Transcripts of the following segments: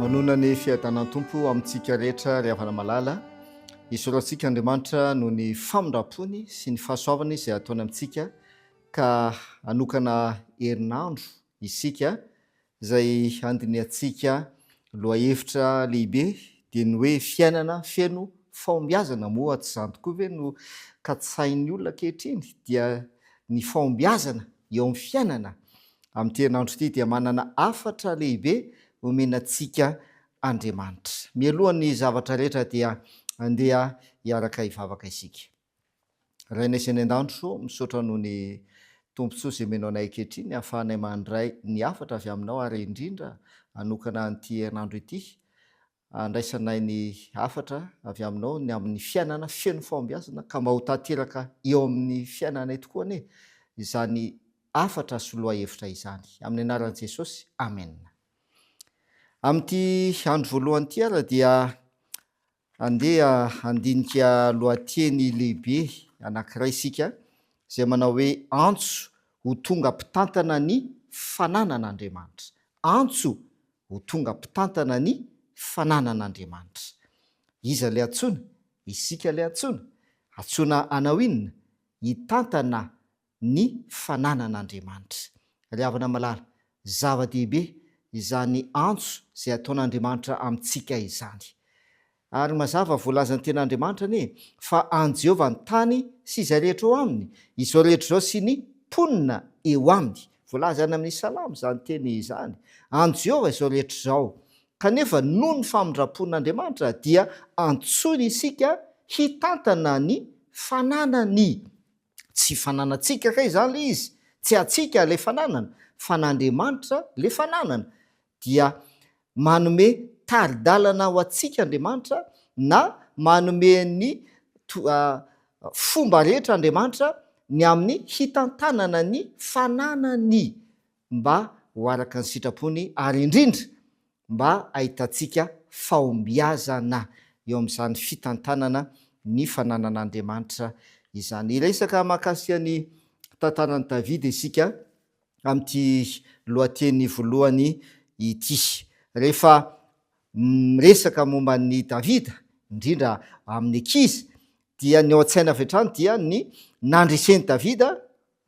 Manonona ny fiadanan'ny Tompo amintsika rehetra ry havana malala. Isorantsika Andriamanitra noho ny famindrampony sy ny fahasoavany izay ataony amintsika ka hanokana herinandro isika Izay handinihantsika lohahevitra lehibe dia ny hoe fiainana feno fahombiazana. Moa tsy izany tokoa ve no katsahin'ny olona ankehitriny? Dia ny fahombiazana eo amin'ny fiainana. Amin'ity herinandro ity dia manana hafatra lehibe omena antsika Andriamanitra. Mialohan'ny zavatra rehetra dia andeha hiaraka hivavaka isika. Rainay izay any an-danitro, misaotra noho ny tombontsoa izay omenao anay ankehitriny hahafahanay mandray ny hafatra avy aminao ary indrindra hanokana an'ity herinandro ity handraisanay ny hafatra avy aminao ny amin'ny fiainana feno fahombiazana ka mba ho tanteraka eo amin'ny fiainanay tokoa anie izany hafatra sy lohahevitra izany. Amin'ny anaran'i Jesosy, amena. Amin'ity andro voalohany ity ary dia Andeha handinika lohateny lehibe anankiray isika izay manao hoe Antso ho tonga mpitantana ny fananan'Andriamanitra. Antso ho tonga mpitantana ny fananan'Andriamanitra. Iza ilay antsoina? Isika ilay antsoina. Antsoina hanao inona? Hitantana ny fananan'Andriamanitra. Ry havana malala, zava-dehibe izany antso izay ataon'Andriamanitra amintsika izany. Ary mazava, voalazan'ny Teny Andriamanitra anie fa an'i Jehovah ny tany sy izay rehetra eo aminy, izao rehetra izao sy ny mponina eo aminy. Voalaza any amin'ny Salamo izany teny izany. An'i Jehovah izao rehetra izao. Kanefa, noho ny famindram-pon'Andriamanitra, dia antsoiny isika hitantana ny fananany. Tsy fananantsika kay izany ilay izy, tsy antsika ilay fananana fa an'Andriamanitra ilay fananana. Dia manome tari-dalana ho antsika Andriamanitra na manome ny fomba rehetra Andriamanitra ny amin'ny hitantanana ny fananany. mba ho araka ny sitrapony ary indrindra mba hahitantsika fahombiazana eo amin'izany fitantanana ny fananan'Andriamanitra izany. Hiresaka mahakasika ny tantaran'i Davida isika amin'ity lohateny voalohany ity. Rehefa miresaka momba an'i Davida, indrindra amin'ny ankizy, dia ny ao an-tsaina avy hatrany dia ny nandresen'i Davida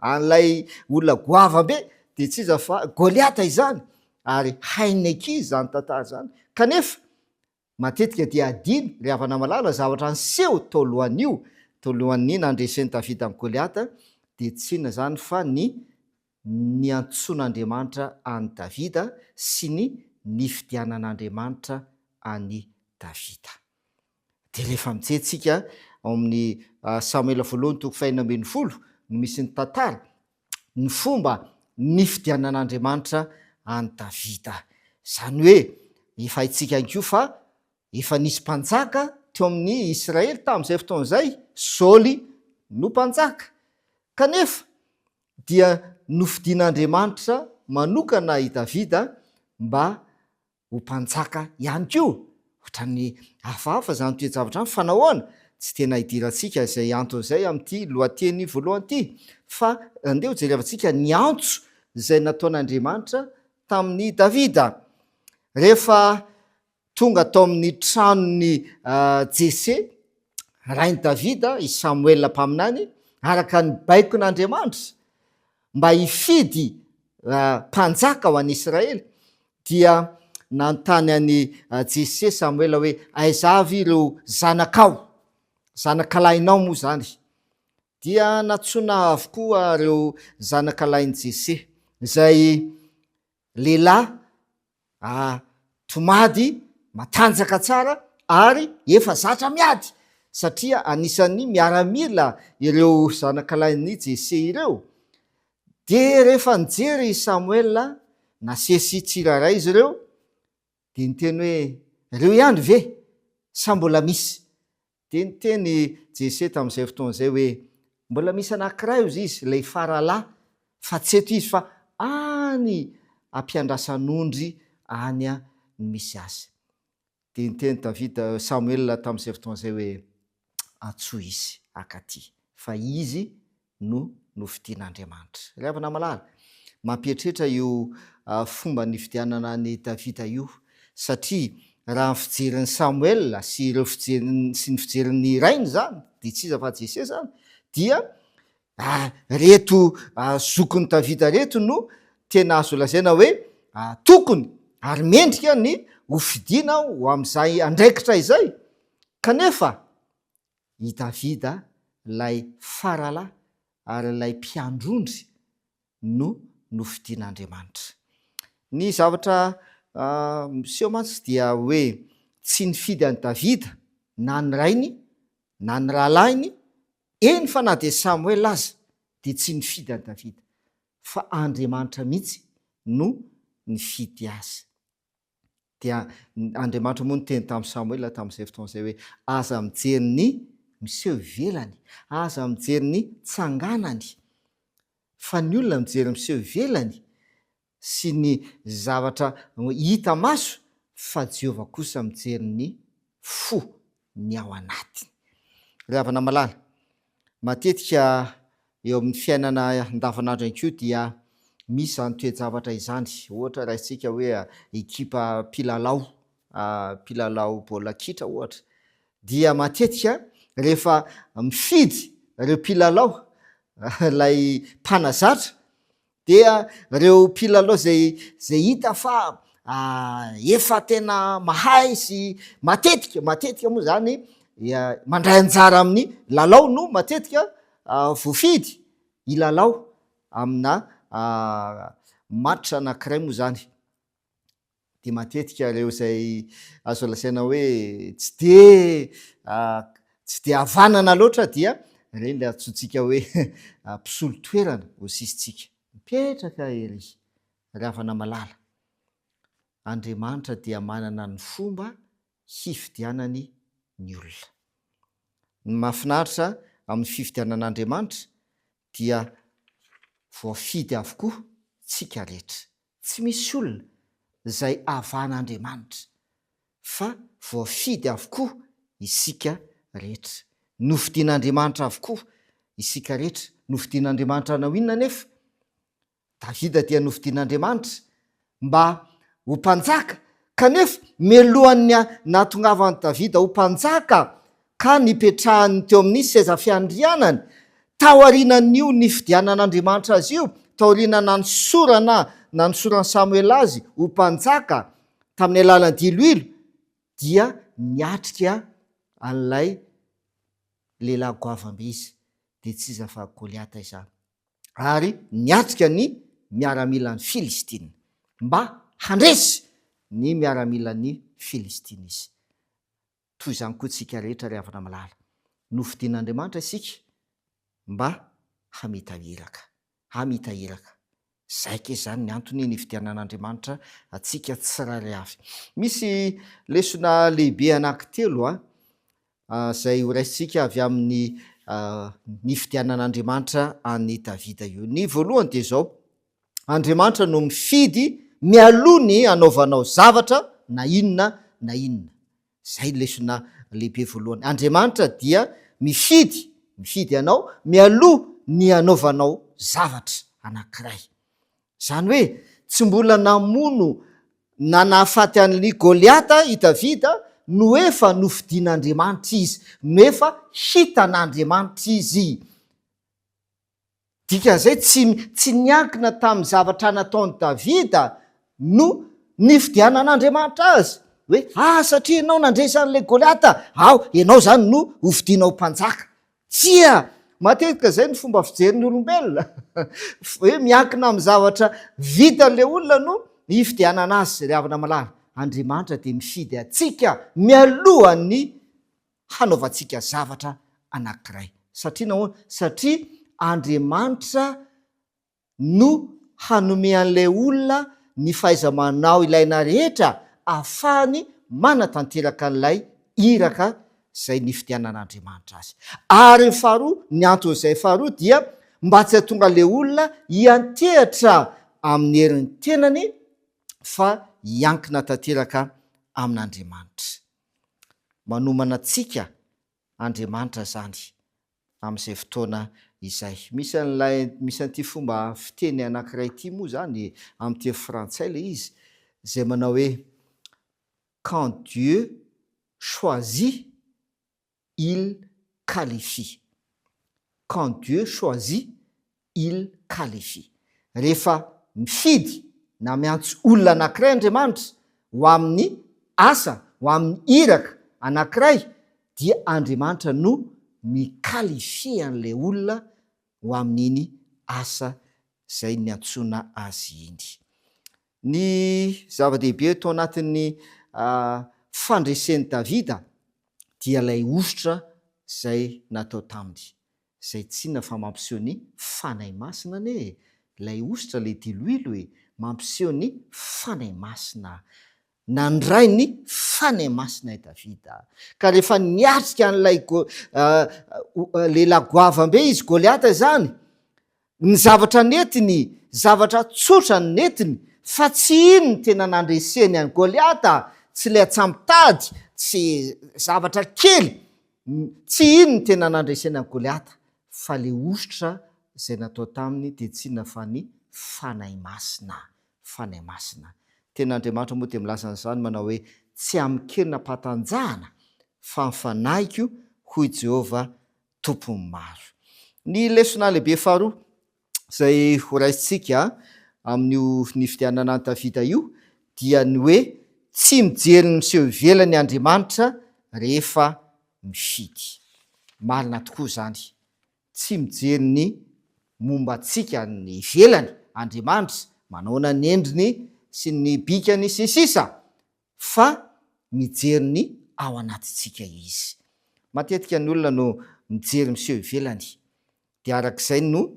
An'ilay olona goava be dia tsy iza fa Goliata izany, ary hain'ny ankizy izany tantara izany. Kanefa, matetika dia adino ry havana malala, zavatra niseho tao alohan'io, tao alohan'ny nandresen'i Davida an'i Goliata, dia tsy inona izany fa ny niantsoan'Andriamanitra an'i Davida sy ny nifidianan'Andriamanitra an'i Davida. Dia rehefa mijery tsika ao amin'ny Samoela voalohany toko fahenina ambin'ny folo no misy ny tantara ny fomba nifidianan'Andriamanitra an'i Davida. Izany hoe efa haintsika ihany koa fa efa nisy mpanjaka teo amin'ny Israely tamin'izay fotoana izay, Saoly no mpanjaka. Kanefa dia nofidin'Andriamanitra manokana i Davida mba ho mpanjaka ihany koa. Ohatran'ny hafahafa izany toe-javatra izany fa nahoana? Tsy tena idirantsika izay antony izay amin'ity lohateny voalohany ity, fa andeha hojerevantsika ny antso izay nataon'Andriamanitra tamin'i Davida. Rehefa tonga tao amin'ny tranon'i Jese, rain'i Davida, i Samoela mpaminany, araka ny baikon'Andriamanitra, mba hifidy mpanjaka ho an'Israely, Dia nanontany an'i Jese Samoela hoe, Aiza avy ireo zanakao? Zanakalahinao moa izany? Dia nantsoina avokoa ireo zanakalahin'i Jese, izay lehilahy tomady matanjaka tsara ary efa zatra miady, satria anisan'ny miaramila ireo zanakalahin'i Jese ireo. Dia rehefa nijery i Samoela nasesy tsirairay izy ireo, dia niteny hoe, Ireo ihany ve, sa mbola misy? Dia niteny i Jese tamin'izay fotoana izay hoe, Mbola misy anankiray hozy izy, ilay faralahy, fa tsy eto izy, fa any am-piandrasan'ondry any no misy azy. Dia niteny Davida, Samoela tamin'izay fotoana izay hoe, Antsoy izy akaty, fa izy no nofidian'Andriamanitra. Ry havana malala, mampieritreritra io fomba nifidianana an'i Davida io, satria raha ny fijerin'i Samoela sy ireo fijerin'ny sy ny fijerin'ny rainy izany, dia tsy iza fa Jese izany, dia Ah, reto zokin'i Davida reto no tena azo lazaina hoe tokony ary mendrika ny hofidiana ho amin'izay andraikitra izay. Kanefa i Davida ilay faralahy ary ilay mpiandrondry no nofidian'Andriamanitra. Ny zavatra miseho mantsy dia hoe tsy nifidy an'i Davida na ny rainy na ny rahalahiny Eny fa na dia Samoela aza dia tsy nifidy an'i Davida, fa Andriamanitra mihitsy no nifidy azy. Dia Andriamanitra moa niteny tamin'i Samoela tamin'izay fotoana izay hoe, Aza mijery ny miseho ivelany, aza mijery ny tsanganany, fa ny olona mijery miseho ivelany sy ny zavatra hita maso fa Jehovah kosa mijery ny fo, ny ao anatiny. Ry havana malala, matetika eo amin'ny fiainana andavanandro ihany koa dia misy izany toe-javatra izany. Ohatra raisintsika hoe ekipa mpilalao, mpilalao baolina kitra ohatra, dia matetika rehefa mifidy ireo mpilalao ilay mpanazatra Dia ireo mpilalao izay izay hita fa efa tena mahay sy matetika, matetika moa izany mandray anjara amin'ny lalao no matetika voafidy hilalao amina match anankiray moa izany. dia matetika ireo izay azo lazaina hoe tsy dia tsy dia havanana loatra dia ireny ilay antsointsika hoe mpisolo toerana eo sisintsika, mipetraka ery ry havana malala, Andriamanitra dia manana ny fomba hifidianany ny olona. Ny mahafinaritra amin'ny fifidianan'Andriamanitra dia voafidy avokoa tsika rehetra. Tsy misy olona izay avana Andriamanitra fa voafidy avokoa isika rehetra. Nofidin' Andriamanitra avokoa isika rehetra. Nofidin' Andriamanitra hanao inona anefa? Davida dia nofidin'Andriamanitra mba ho mpanjaka, kanefa mialohan'ny nahatongavan'i Davida ho mpanjaka ka nipetrahany teo amin'ny seza fiandrianany, taorianan'io nifidianan'Andriamanitra azy io, taoriana nanosorana nanosoran'i Samoela azy ho mpanjaka tamin'ny alalan'ny diloilo, dia niatrika an'ilay lehilahy goavambe izy, dia tsy iza fa Goliata izany. ary niatrika ny miaramilan'i Filistina. Mba handresy ny miaramilan'i Filistina izy. Toy izany koa isika rehetra ry havana malala. Nofidin'Andriamanitra isika mba hamita iraka. Hamita iraka. Izay ange izany ny antony nifidianan'Andriamanitra antsika tsirairay avy. Misy lesona lehibe anankitelo izay horaisintsika avy amin'ny nifidianan'Andriamanitra an'i Davida io. Ny voalohany dia izao, Andriamanitra no mifidy mialoha ny hanaovanao zavatra na inona na inona. Izay no lesona lehibe voalohany. Andriamanitra dia mifidy, mifidy anao mialoha ny hanaovanao zavatra anankiray. Izany hoe tsy mbola namono na nahafaty an'i Goliata i Davida no efa nofidin'Andriamanitra izy, no efa hitan'Andriamanitra izy. Dikan'izay tsy tsy niankina tamin'ny zavatra nataon'i Davida no nifidianan'Andriamanitra azy, hoe ah satria ianao nandresy an'ilay Goliata, ao, ianao izany no hofidina ho mpanjaka. Tsia! Matetika izay no fomba fijerin'ny olombelona. Hoe miankina amin'ny zavatra vitan'ilay olona no hifidianana azy. Ry havana malala, Andriamanitra dia mifidy antsika mialohan'ny hanaovantsika zavatra anankiray. Satria nahoana? Satria Andriamanitra no hanome an'ilay olona ny fahaiza-manao ilaina rehetra ahafahany manatanteraka an'ilay iraka izay nifidianan'Andriamanitra azy. Ary ny faharoa, ny anton'izay faharoa dia mba tsy hahatonga an'ilay olona hiantehatra amin'ny herin'ny tenany fa hiankina tanteraka amin'Andriamanitra. Manomana antsika Andriamanitra izany amin'izay fotoana izay. Misy an'ilay, misy an'ity fomba fiteny anankiray ity moa izany, amin'ny teny frantsay ilay izy, izay manao hoe quand Dieu choisit, il qualifie. Quand Dieu choisit, il qualifie. Rehefa mifidy na miantso olona anankiray Andriamanitra ho amin'ny asa, ho amin'ny iraka anankiray, dia Andriamanitra no mi-qualifier an'ilay olona ho amin'iny asa izay niantsoana azy iny. Ny zava-dehibe eto anatin'ny fandresen'i Davida dia ilay hosotra izay natao taminy. Zay tsinona fa mampiseho ny Fanahy Masina anie e! Ilay hosotra le diloilo e! Mampiseho ny Fanahy Masina! Nandray ny Fanahy Masina i Davida, ka rehefa niatrika an'ilay lehilahy goavambe izy, Goliata izany, Ny zavatra nentiny, zavatra tsotra no nentiny, fa tsy iny no tena nandreseny an'i Goliata, tsy ilay atsamo-tady, tsy zavatra kely, tsy iny no tena nandreseny an'i Goliata, fa ilay hosotra izay natao taminy dia tsy inona fa ny Fanahy Masina, Fanahy Masina. Ny Tenin'Andriamanitra moa dia milaza an'izany manao hoe, Tsy amin-kery nampantanjahana, fa ny Fanahiko, hoy Jehovah tompony maro. Ny lesona lehibe faharoa izay ho raisintsika amin'io nifidianana an'i Davida io dia ny hoe tsy mijery ny miseho ivelany Andriamanitra rehefa mifidy. Marina tokoa izany, tsy mijery ny momba antsika ny ivelany Andriamanitra, manaona ny endriny sy ny bikany sy ny sisa fa mijery ny ao anatintsika Izy. Matetika ny olona no mijery miseho ivelany, dia araka izay no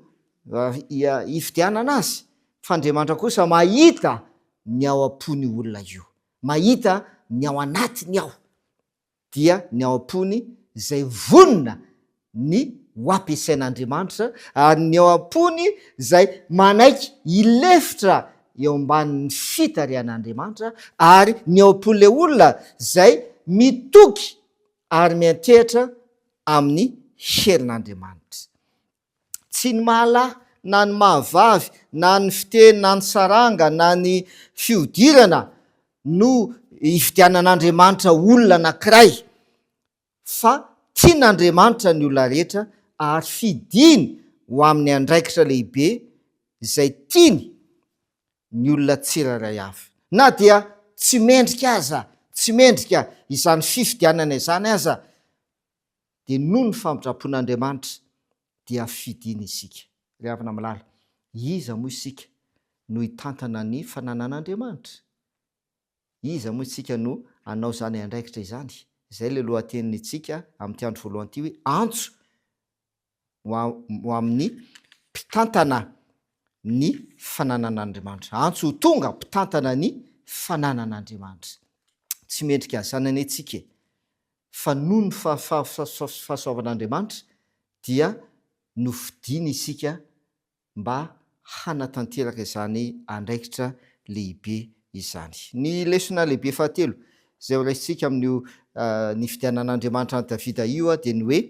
hifidianana azy, fa Andriamanitra kosa mahita ny ao am-pon'io olona io, mahita ny ao anatiny ao. dia ny ao am-pony izay vonona ny ho ampiasain'Andriamanitra, ary ny ao am-pony izay manaiky hilefitra eo ambanin'ny fitarihan'Andriamanitra, ary ny ao am-pon'ilay olona izay mitoky ary miantehitra amin'ny herin'Andriamanitra. tsy ny maha lahy na ny maha vavy na ny fiteny na ny saranga na ny fihodirana no ividianan'Andriamanitra olona anankiray fa tian'Andriamanitra ny olona rehetra ary fidiny ho amin'ny andraikitra lehibe izay tiany ny olona tsirairay avy na dia tsy mendrika aza, tsy mendrika izany fifidianana izany aza dia noho ny famindram-pon'Andriamanitra dia fidiny isika. Ry havana malala, iza moa isika no hitantana ny fananan'Andriamanitra? Iza moa isika no hanao izany andraikitra izany? Izay ilay lohatenin'itsika amin'ity andro voalohany ity hoe Antso ho amin'ny mpitantana ny fananan'Andriamanitra. Antso ho tonga mpitantana ny fananan'Andriamanitra. Tsy mendrika zanany antsika e! fa noho ny fahasoavan'Andriamanitra dia nofidiny isika mba hanatanteraka izany andraikitra lehibe izany. Ny lesona lehibe fahatelo izay ho raisintsika amin'io nifidianan'Andriamanitra an'i Davida io dia ny hoe,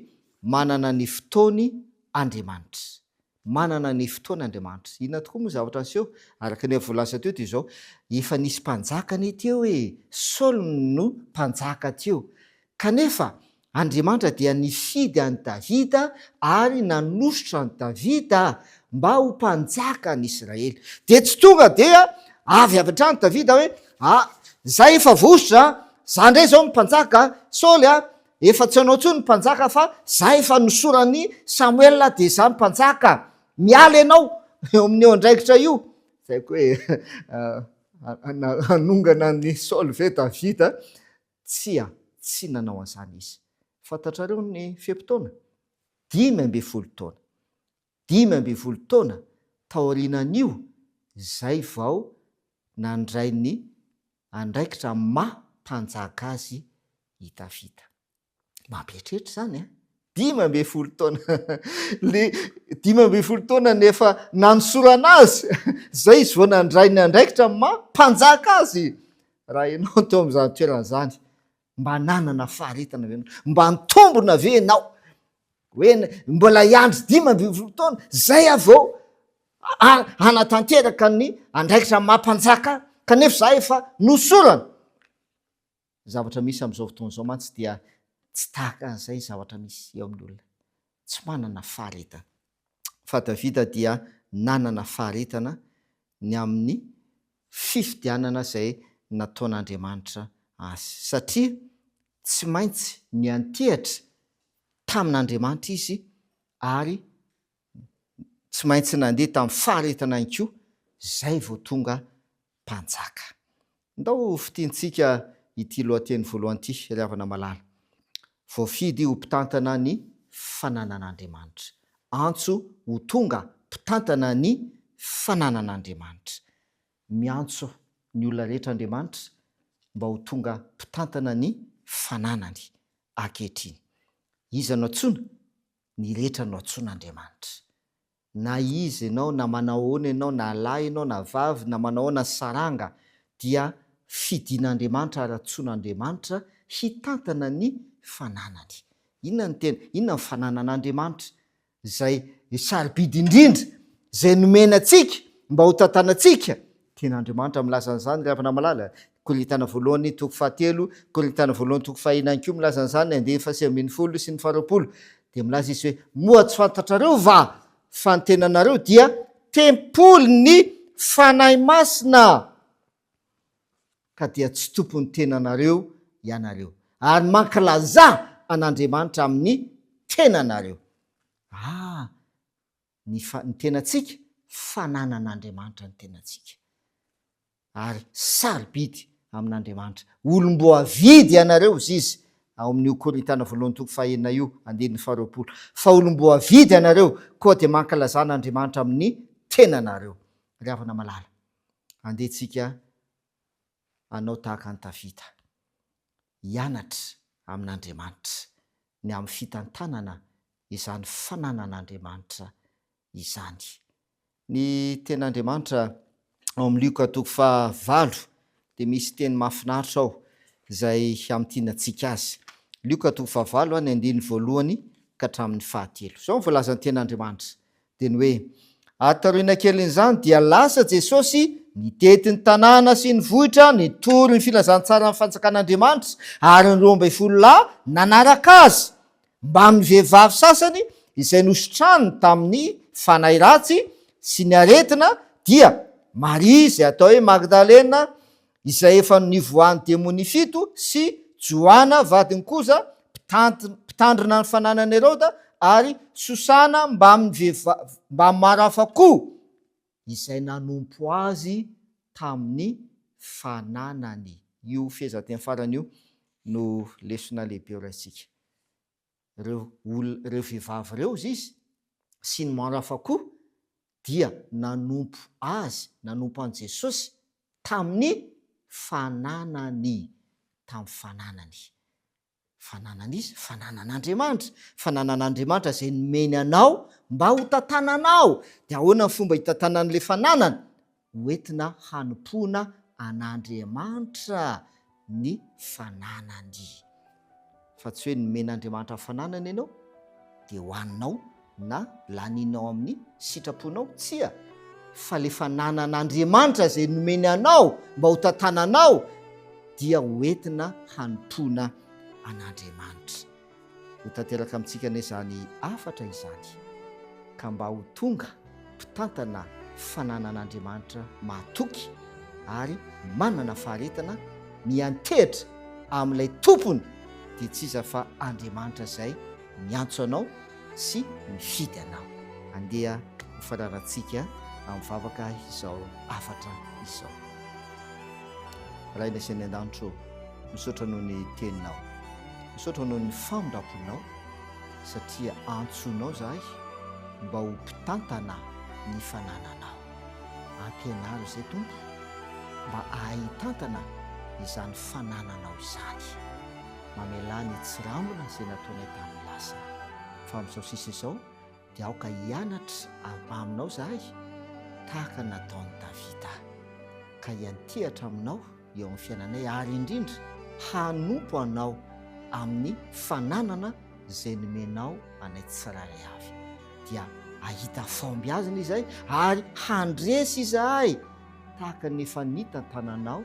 manana ny fotoany Andriamanitra. Manana ny fotoana Andriamanitra. Inona tokoa moa zavatra niseho? Araka ny efa voalaza teo dia izao, efa nisy mpanjaka anie teo e! Saoly no mpanjaka teo. Kanefa, Andriamanitra dia nifidy an'i Davida ary nanositra an'i Davida mba ho mpanjaka an'i Israely. Dia tsy tonga dia avy avy hatrany Davida hoe, ah, izay efa vosotra, izaho indray izao no mpanjaka, Saoly a, Efa tsy anao intsony ny mpanjaka fa za efa nosoran'i Samoela dia za no mpanjaka. Miala ianao eo amin'io andraikitra io. Izay koa hoe hanongana an'i Saoly ve Davida? Tsia, tsy nanao an'izany izy. Fantatrareo ny fe-potoana? Dimy ambin'ny folo taona. Dimy ambin'ny folo taona taorianan'io izay vao nandray ny andraikitra maha mpanjaka azy i Davida. Mampieritreritra izany an! Dimy ambin'ny folo taona! Le dimy ambin'ny folo taona no efa nanosorana azy, izay izy vao nandray ny andraikitra maha mpanjaka azy! Raha ianao teo amin'izany toerana izany, Mba nanana faharetana ve ianao? Mba nitombona ve ianao? Hoe mbola hiandry dimy ambin'ny folo taona, zay aho vao hanatanteraka ny andraikitra maha-mpanjaka ahy, kanefa za efa nosorana. Zavatra misy amin'izao fotoana izao mantsy dia tsy tahaka an'izay zavatra misy eo amin'ny olona. tsy manana faharetana. Fa Davida dia nanana faharetana ny amin'ny fifidianana izay nataon'Andriamanitra azy, satria tsy maintsy niantehitra tamin'Andriamanitra izy ary tsy maintsy nandeha tamin'ny faharetana ihany koa izay vao tonga Mpanjaka. Ndao ho fintintsika ity lohateny voalohany ity, ry havana malala. Voafidy ho mpitantana ny fananan'Andriamanitra. Antso ho tonga mpitantana ny fananan'Andriamanitra. Miantso ny olona rehetra Andriamanitra mba ho tonga mpitantana ny fananany ankehitriny. Iza no antsoina? Ny rehetra no antsoin'Andriamanitra. Na iza ianao, na manao ahoana ianao, na lahy ianao na vavy, na manao ahoana ny saranga, dia fidin'Andriamanitra ary antsoin'Andriamanitra hitantana ny fananany. Inona no tena, inona ny fananan'Andriamanitra? Izay sarobidy indrindra, izay nomena antsika mba hotantanantsika, Tian'Andriamanitra milaza an'izany ry havana malala. Korintana voalohany toko fahatelo, Korintana voalohany toko fahahina ihany koa milaza an'izany, andiany fahasivy ambin'ny folo sy ny faharoapolo. Dia milaza izy hoe, Moa tsy fantatrareo va fa ny tenanareo dia tempolin'ny Fanahy Masina, ka dia tsy tompon'ny tenanareo ianareo, ary mankalazà an'Andriamanitra amin'ny tenanareo? Ah! ny ny tenantsika, fananan'Andriamanitra ny tenantsika. Ary sarobidy amin'Andriamanitra. Olom-boavidy ianareo, hoy izy ao amin'io Korintana voalohany toko fahenina io, andininy faharoapolo. Fa olom-boavidy ianareo, koa dia mankalazana Andriamanitra amin'ny tenanareo. Ry havana malala, andeha tsika hanao tahaka an'i Davida. hianatra amin'Andriamanitra ny amin'ny fitantanana izany fananan'Andriamanitra izany. Ny Tenin'Andriamanitra ao amin'ny Lioka toko faha valo dia misy teny mahafinaritra ao izay hamintina antsika azy. Lioka toko faha valo, ny andininy voalohany ka hatramin'ny fahatelo. Izao no voalazan'ny Tenin'Andriamanitra, Dia ny hoe, ary taoriana kelin'izany dia lasa Jesosy nitety ny tanàna sy ny vohitra nitory ny filazantsaran'ny fanjakan'Andriamanitra, ary ny roa ambin'ny folo lahy nanaraka Azy, mbamin'ny vehivavy sasany izay nositrany tamin'ny fanahy ratsy sy ny aretina, dia Maria izay atao hoe Magdalena, izay efa nivoahan'ny demonia fito, sy Joana vadin'i Koza, mpitandrina ny fananan'i Heroda, ary Sosana mbamin'ny vehivavy mbamin'ny maro hafa koa, izay nanompo azy tamin'ny fananany. Io fehezanteny farany io no lesona lehibe ho raisintsika. reo olona reo vevavy reo ziz sy ny maro hafa koa dia nanompo azy nanompo any jesosy taminy fananany tam fananany fananany iza fananan andriamanitra fananan andriamanitra zay nomeny anao mba ho tatananao de ahoana ny fomba hitatanany le fananany hoentina hanompoana an'Andriamanitra ny fananany. Fa tsy hoe nomen'Andriamanitra fananana ianao dia hohaninao na lanininao amin'ny sitraponao, tsia, fa ilay fananan'Andriamanitra izay nomeny anao mba ho tantananao dia hoentina hanompoana an'Andriamanitra. Ho tanteraka amintsika anie izany hafatra izany, ka mba ho tonga mpitantana fananan'Andriamanitra mahatoky ary manana faharetana miantehitra amin'ilay tompony dia tsy iza fa Andriamanitra izay miantso anao sy mifidy anao. Andeha ho fanarantsika amin'ny vavaka izao hafatra izao. Rainay izay any an-danitra ô. Misaotra noho ny teninao. Misaotra noho ny famindramponao satria antsoinao izahay mba ho mpitantana ny fanananao. Ampianaro izay Tompo mba hahay hitantana izany fanananao izany. Mamelà ny tsirambina izay nataonay tamin'ny lasa. Fa amin'izao sisa izao dia aoka hianatra avy aminao izahay tahaka ny nataon'i Davida, ka hiantehatra aminao eo amin'ny fiainanay ary indrindra hanompo anao amin'ny fananana izay nomenao anay tsirairay avy, dia hahita fahombiazana izahay ary handresy izahay tahaka ny efa nita an-tananao